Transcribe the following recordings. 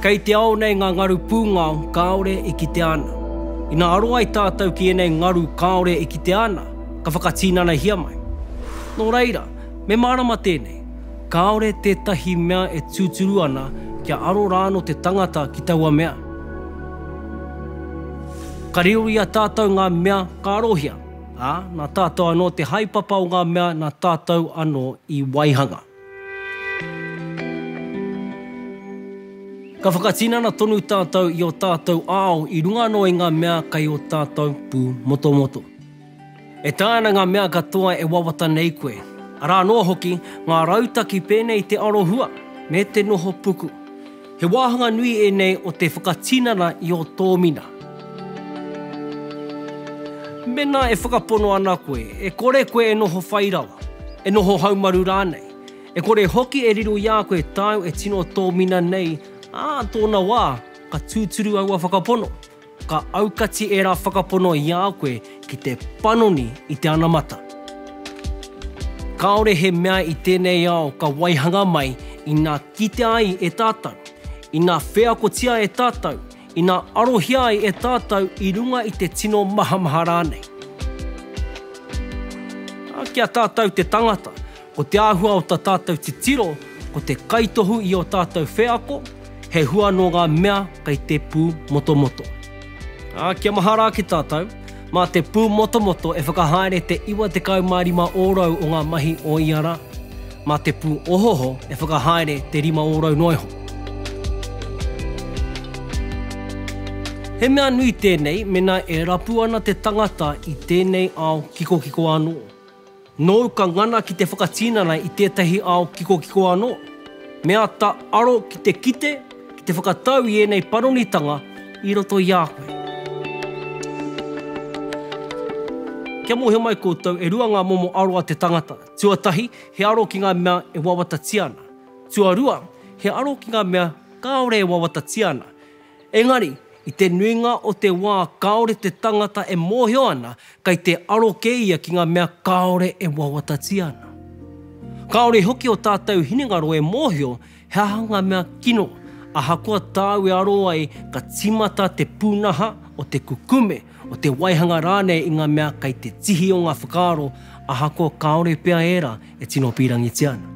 Kei te ao nei ngā ngaru pūngao kāore e kitea ana. Ina aro ai tātou ki ēnei ngaru kāore e kitea ana, ka whakatinanahia mai. Nō reira, me mārama tēnei, kāore tētahi mea e tūturu ana kia aro rāno te tangata ki taua mea. Ka riro i a tātou ngā mea ka arohia, ā, nā tātou anō te haepapa o ngā mea nā tātou anō i waihanga. Ka whakatinana tonu tātou i ō tātou ao i runga anō i ngā mea kei ō tātou pūmotomoto. E taea ana ngā mea katoa e wawata nei koe, arā noa hoki ngā rautaki pēnei i te arohua me te noho puku. He wāhanga nui ēnei o te whakatinana i ō tōmina. Mēnā e whakapono ana koe, e kore koe e noho whai rawa, e noho haumaru rānei, e kore hoki e riro i a koe tāu e tino tōmina nei, ā tōna wā, ka tūturu aua whakapono. Ka aukati ērā whakapono i a koe ki te panoni i te anamata. Kāore he mea i tēnei ao ka waihanga mai ina kitea ai e tātou, ina wheakotia e tātou, ina arohia ai e tātou i runga i te tino mahamaha rānei. Ā, ki a tātou te tangata, Ko te āhua o tā tātou titiro ko te kaitohu i ō tātou wheako, he hua nō ngā mea kei te pū motomoto. Ā, kia mahara ake tātou, mā te pū motomoto e whakahaere te 95 ōrau o ngā mahi o ia rā, mā te pū ohoho e whakahaere te rima ōrau noa iho. He mea nui tēnei mēnā e rapu ana te tangata i tēnei ao kikokiko anō. Nōu ka ngana ki te whakatinana i tētahi ao kikokiko anō. Me āta aro ki te kite, ki te whakatau i ēnei panonitanga i roto i a koe. Kia mōhio mai koutou, e rua ngā momo aro a te tangata. Tuatahi, he aro ki ngā mea e wawatatia ana. Tuarua, he aro ki ngā mea kāore e wawatatia ana. Engari, i te nuinga o te wā kāore te tangata e mōhio ana kei te aro kē ia ki ngā mea kāore e wawatatia ana. Kāore hoki ō tātou hinengaro e mōhio he aha ngā mea kino, ahakoa tāu e aro ai ka tīmata te pūnaha o te kukume o te waihanga rānei i ngā mea kei te tihi o ngā whakaaro ahakoa kāore pea ērā e tino pīrangitia ana.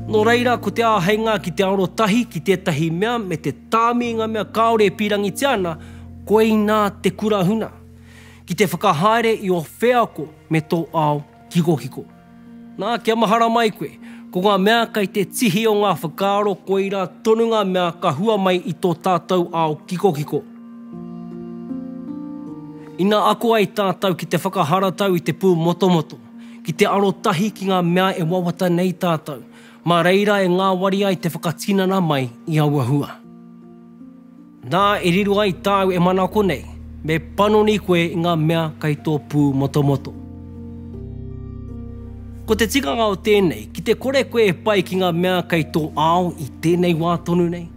Nō reira, ko te āheinga ki te arotahi ki tētahi mea me te tāmi i ngā mea kāore e pīrangitia ana, koinā te kura huna, ki te whakahaere i ō wheako me tō ao kikokiko. Nā, kia mahara mai koe, ko ngā mea kei te tihi o ngā whakaaro koirā tonu ngā mea ka hua mai i tō tātou ao kikokiko. Ina ako ai tātou ki te whakaharatau i te pūmotomoto, ki te arotahi ki ngā mea e wawata nei tātou, mā reira e ngāwari ai te whakatinana mai i aua hua. Nā, e riro ai tāu e manako nei, me panoni koe i ngā mea kei tō pū motomoto. Ko te tikanga o tēnei, ki te kore koe e pai ki ngā mea kei tō ao i tēnei wā tonu nei,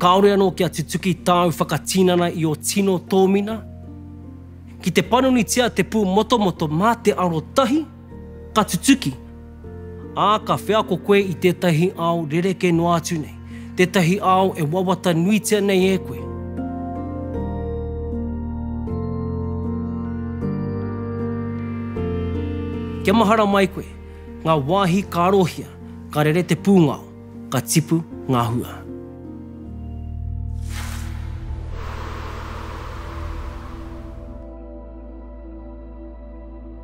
kāore anō kia tutuki tāu whakatinana i ō tino tōmina, ki te panonitia te pū motomoto mā te arotahi, Ka tutuki, ā, ka wheako koe i tētahi ao rerekē noa atu nei, tētahi ao e wawata nuitia nei e koe. Kia mahara mai koe, ngā wāhi ka arohia, ka rere te pūngao, ka tipu ngā hua.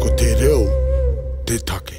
Ko te reo te take.